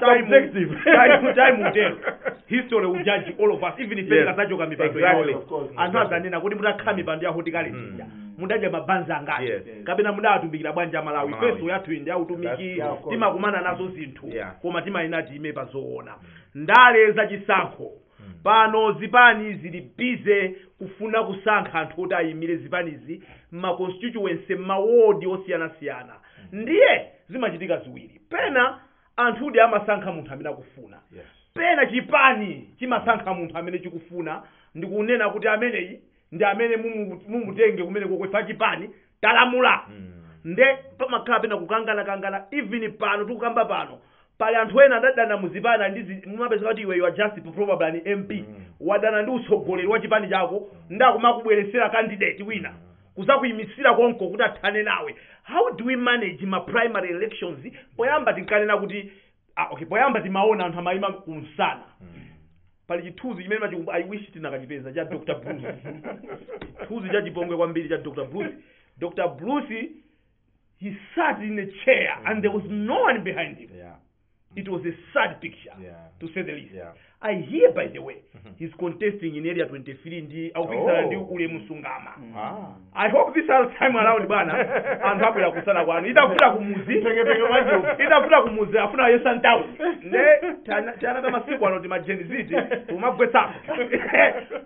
Subjective. time time will tell history will judge all of us even if Yes. tikazachoka mipando Exactly. yaoyi Of course. anthu azanena kodi mutakhala mipando yawo ndi kale lija mudadya mabanzi angati Yes. kapena mudawatumikira bwanji amalawi Malawi. ifenso yathuyi ndi ya utumiki That's- yeah, of course. timakumana nazo zinthu Yeah. koma timayenera tiime pazoona ndale za chisankho pano zipani zili busy kufuna kusankha anthu oti ayimire zipanizi mma constituency mma ward osiyanasiyana ndiye zimachitika ziwiri pena anthudi amasankha munthu amene akufuna pena chipani chimasankha munthu amene chikufuna ndikunena kuti ameneyi ndi amene mumu- mumutenge kumene koko ife a chipani talamula nde pamakhala pena kukangana kangana even pano tikukamba pano pali anthu ena adadana muzipani ali ndi zi- mumapezeka kuti iwe you are just probably an mp wadana ndi utsogoleri wa chipani chako ndi kumakubweresera candidate wina kuzakuyimisira konko kuti athane nawe how do we manage ma primary elections poyamba tinkanena kuti ah, okay poyamba timaona anthu amayima kumsana pali chithunzi chimene ndimachikumbu i wish tinakachipeza cha dr bruce chithunzi cha chipongwe kwambiri cha dr bruce dr bruce he sat in a chair and there was no one behind him yeah it was a sad picture Yeah. to say the least Yeah. I hear by the way he's contesting in area 23 ndi akupikisana Oh. ndi ulemu sungama Ah. I hope this time around bwana anthu abwera kumsana kwanu itavuta kumuzi Mteketeke mwacho. itavuta kumuzi afuna ayese mtauni nde tana- tiana ta masiku ano tima gen z tumagwetsapo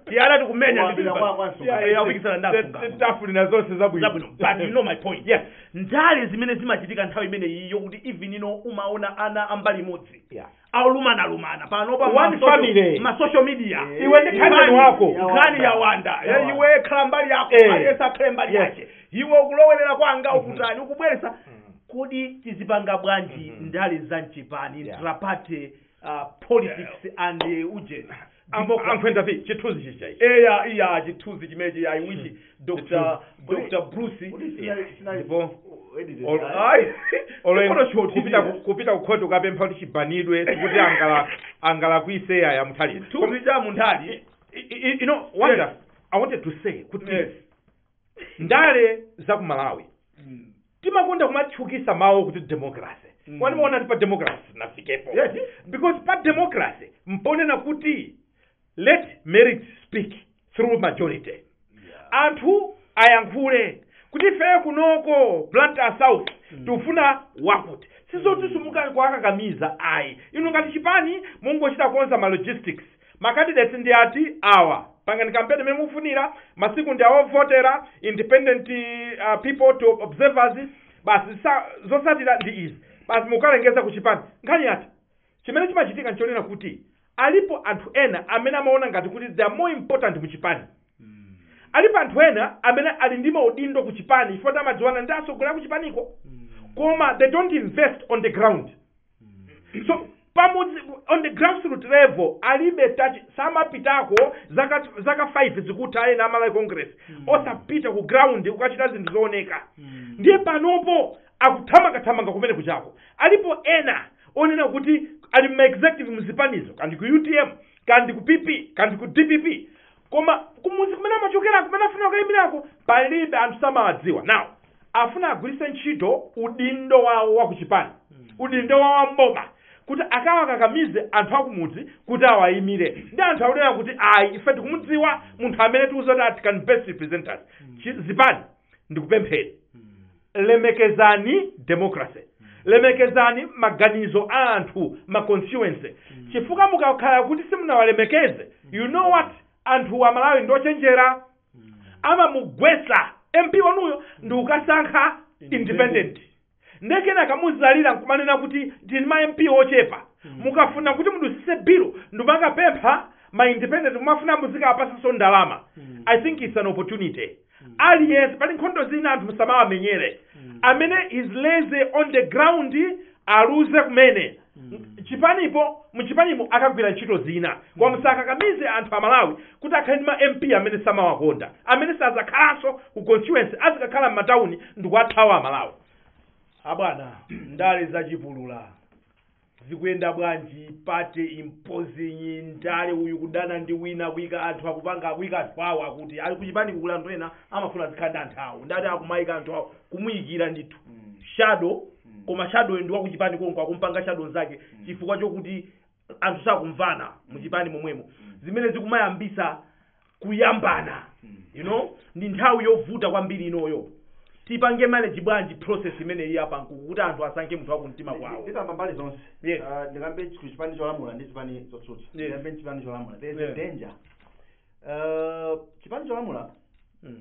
tiana tikumenya Kuwambira kwa- kwa Nsungama. akupikisana ndi asungama tawafunira zonse zabwino zabwino but you know my point yes ndale zimene zimachitika nthawi imene iyo kuti even ino umaona ana a mbali imodzi Yeah. akulumana lumana pano pa One ma social- family. ma social media Iwe ndi Nkhani- cousin wako. nkhani ya wanda Ya Eh, wanda. iwe khala mbali yako Eh. aliyesa akhale mbali Yes. yake iwe ukulowerera kwanga ukutani ukubweresa kodi tizipanga bwanji ndale za mchipani Yeah. intraparty uh, politics and uh, ujeni Ambo- ankhwenda vi chithunzi chicha ichi eya iya chithunzi chimechi ayi I wish dr dr bruce ndipo Ol- ayi, olo inu- Chikono choti kupita ku- kupita kukhoti ukapempha kuti chibanidwe kuti angala angalakwise aya muthalika chithunzi cha munthali you know what Yes. i wanted to say kuti Yes. ndale za ku malawi timakonda kumatchukisa mawu kuti democracy Mm. mwina mumaona kuti pa democracy sitinafikepo Yes. because pa democracy mponena kuti let merit speak through majority anthu ayankhule kuti ifeyo kunoko blantyre south tikufuna wakuti sizoti simukuyenera kuwakakamiza ayi inu ngati chipani mungochita konza ma logistics ma candidates ndi ati awa pangani kampeni mmene mufunira masiku ndi awovotera independent uh, people to observers basi zisa- zotsatira ndi izi basi mukalengeza ku chipani nkhani yatha chimene chimachitika nchonena kuti alipo anthu ena amene amaona ngati kuti they are more important mu chipani alipo anthu ena amene ali ndi maudindo ku chipani chifukwa kuti amadziwana ndi atsogoleri aku chipaniko koma they don't invest on the ground so pamudzi on the grassroot level alibe touch samapitako zaka zaka 5 zikutha ena amalawi congress osapita ku ground kukachita zinthu zooneka ndiye panopo akuthamangathamanga kumene kwachako alipo ena onena kuti ali mma executive mzipanizo kaya ndi ku utm kaya ndi ku pp kaya ndi ku dpp koma kumuzi kumene amachokera kumene afuna kukayimirako palibe anthu samawadziwa now afuna agwiritse ntchito udindo wawo wa kuchipani udindo wawo wa mboma kuti akawakakamize anthu akumudzi kuti awayimire ndi anthu akunena kuti ayi ife tikumudziwa munthu amene tikuziwa kuti that can best represent us Chi- zipani ndikupempheni lemekezani democracy lemekezani maganizo a anthu m'ma constituency chifukwa mukakhala kuti simunawalemekeze you know what anthu amalawi ndochenjera amamugwesa mp wanuyo ndikukasankha independent nde kenaka muzalira nkumanena kuti tili ndi ma mp ochepa mukafuna kuti mudutsise bilu nkumakapempha ma independent kumafuna muzikawapasanso ndalama i think its an opportunity aliyense pali nkhondo zina anthu musamawamenyere amene is lazy on the ground aluze kumene chipanipo muchipanipo akagwire ntchito zina koma musakakamize anthu amalawi kuti akhale ndi ma MP amene samawakonda, amene sadzakhalanso ku constituency, azikakhala m'matauni ndikuwathawa Amalawi. Abwana, ndale zachipulula zikuyenda bwanji? Party imposing ndale, uyu kudana ndi wina, kuika anthu akupanga, kuika anthu awo akuti ali kuchipani kuli anthu ena amafuna azikhala ndi anthu awo, ndati akumaika anthu awo kumuyikira ndithu shadow, koma shadow ndi wakuchipani konko akumpanga shadow nzake chifukwa chokuti anthu sakumvana muchipani momwemo zimene zikumayambisa kuyambana you know ndi nthawi yovuta kwambiri inoyo tipange manage bwanji process imene iyi apankuku kuti anthu asankhe munthu wakumtima kwawo ndikamba mbali zonse Yes. Ah, ndikambe ku chipani cholamula ndi chipani chotsutsa Yes. ndikambe chipani cholamula there is Yeah. a danger Ah, chipani cholamula Mm.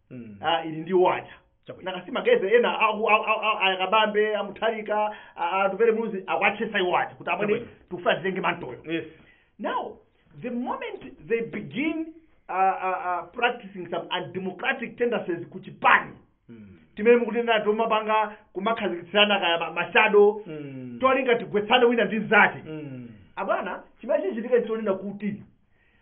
Mm. ah, ili ndi waja Chabwino. nakasi ma guys ena aku- a- a- a- a Kabambe a Mutharika Atupele Muluzi akuwatchesa iwo aja kuti amwene Chabwino. tufuna titenge mantoyo Yes. now the moment they begin uh, uh, uh, practicing some undemocratic tendencies kuchipani Mm. timene mukunena tomapanga kumakhazikitsirana kaya ma- mashado Mm. tolinga tigwetsane wina ndi mzake Mm. abwana chimene chichitika ndichonena kuti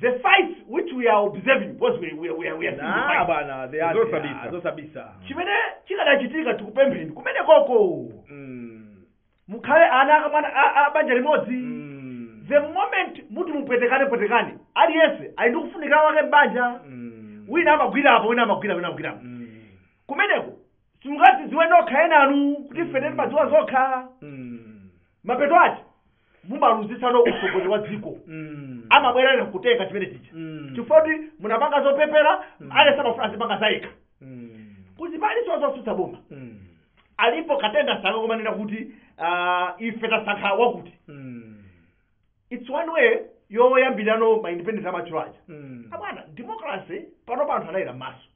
the fights which we are observing because we, we, we, are- we are seeing the Nah, fights. bwana, they are- Zosabisa. they are- zosabisa. chimene chikadachitika tikupempheni kumenekoko Mm. mukhale ana akamwana a- a banja limodzi Mm. the moment muti mupwetekane pwetekane aliyense ali ndi kufunika wake m'banja Mm. wina amagwira apa wina amagwira wina amagwira apa Mm. kumeneko simungadzidziwe nokha enanu kuti feteni padziwa zokha Mm. mapeto ake mumaluzitsana utsogoleri wa dziko Mm. amabwera ena kutenga chimene chija Mm. chifukwa kuti munapanga zopepera aliyense amafuna azipanga zayekha Mm. kuzipani zonse zotsutsa boma Mm. alipo katenga sanga kumanena kuti ah, ife tasankha wakuti Mm. its one way yoyambirano ma independent amachuluka aja Mm. abwana democracy pano anthu anayera m'maso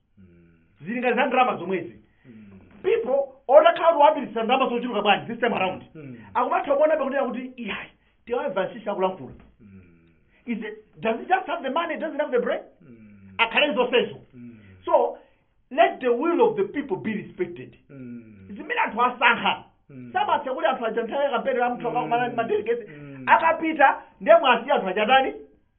zilinga za ndalama zomwezi people utakhala kuti wapititsa ndalama zochuluka bwanji this time around akumatha kuona pakunena kuti iyayi tiwavansisa kulankhula is it does he just have the money does he have the brain akhale ndi zonsezo so let the will of the people be respected zimene anthu asankha samatha kuti anthu aja nthawi ya kampeni la munthu akakumana ndi madelegates akapita ndiye mwasiya anthu aja atani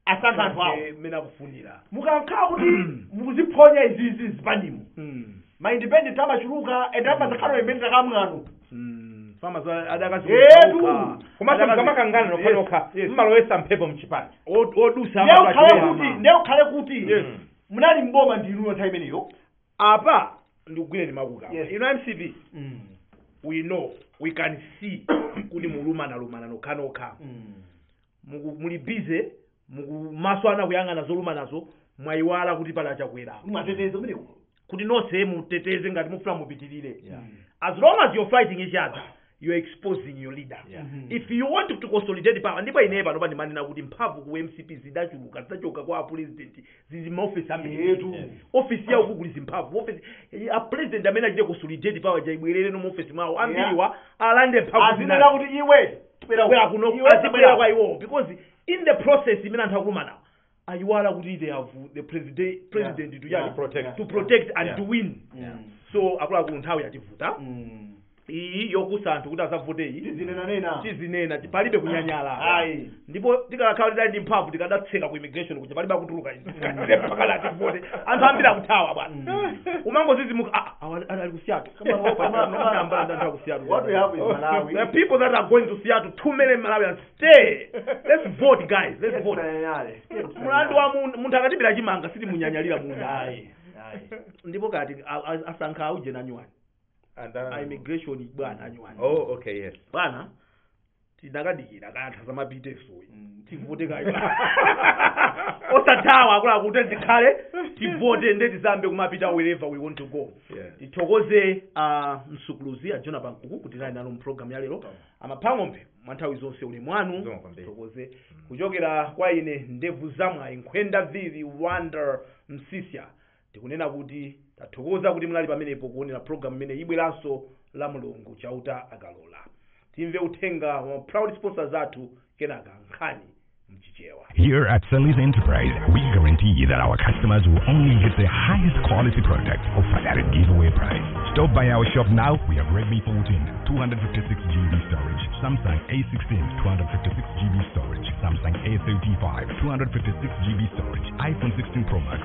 asankha anthu awo Ake mmene akufunira mukakhala kuti mukuziphonya izizi zipanimu Mm. ma independent amachuluka and amazakhala independent akamwanu Mm. Fama za- adakazi- Yetu. okha. komanso Adakazi- mukamakangana nokha Yes, nokha yes. mumalowetsa mphepo mchipani Od- odutsa ndiye amapatira ukhale ama. kuti ndiye ukhale kuti Yes. munali mboma ndinuyo nthawi imeneyo apa ndikugwireni makamaka Yes. inu mcp we know we can see kuti mulumana lumana nokhanokha muku- muli busy maso anu kuyang'ana zolumanazo mwayiwala kuti pali a Chakwera muwateteze amenewo kuti nonse muteteze ngati mufuna mupitirire Yeah. as long as you're fighting each other you're exposing your leader Yeah. if you want to consolidate power ndipo ineyo pano pandimanena kuti mphamvu ku mcp zidachuluka zidachoka kwa apulezidenti zili m'maofesi ambiritu. ofesi yawo kukuliza mphamvu ofesi a president amene achite consolidate power ja ibwerere mu ofesi mwawo ambiriwa alande mphamvu azinena zinazo kuti iwe tibwera bwera kuno Iwe azibwera tabwera. kwa iwowo because in the process imene anthu akulumana ayiwala kuti they have the president president to Yeah. yani protect. to protect and Yeah. to win Yeah. so akuluakulu nthawi yativuta Mm. iyi yowuza anthu kuti azavote iyi tizinenanena tizinena ti- palibe kunyanyala Ayi. ndipo tikadakhala tidali ndi mphamvu tikadatseka ku immigration kuja palibe akutuluka inu. Tikatseka pakhala ati tivote anthu ambiri akuthawa bwana umangozizimuka "Ah, ah, awa- ali ku Seattle." Kama awa- kama- kama anambala ndi anthu aku Seattle. What we have is Malawi. The people that are going to Seattle, two million Malawians, stay. Let's vote, guys. Let's vote. Tizinenanale. Mulandu wa mun- munthu akatibira chimanga sitimunyanyalira munda. Ayi. Ayi. Ndipo kati a- a- asankha auje na nyuwani. Andani? a immigration bwana anyuwani Oh, okay, yes. bwana tinakadikira kanthawi azamapite soyi Mm. tivote kaye osathawa akuluakulu kuti tikhale tivote nde tizambe kumapita wherever we want to go Yeah. tithokoze a msungulutsi a jona pankuku kuti munali nafe mprogramu ya lero amaphang'ombe mwa nthawi zonse uli mwanu Zikomo kwambiri. tithokoze kuchokera kwa ine ndevu zamwayi nkhwenda vivi wonder msiska Tikunena kuti, Tathokoza kuti munali pamenepo kuonera pulogalamu imene ibweranso Lamlungu, Chauta akalola. Timve uthenga wa ma proud sponsors athu, kenaka nkhani m'Chichewa. Here at Sally's Enterprise, we guarantee that our customers will only get the highest quality product offered at a giveaway price. Stop by our shop now. We have Redmi 14, 256 GB storage, Samsung A16, 256 GB storage, Samsung A35, 256 GB storage, iPhone 16 Pro Max,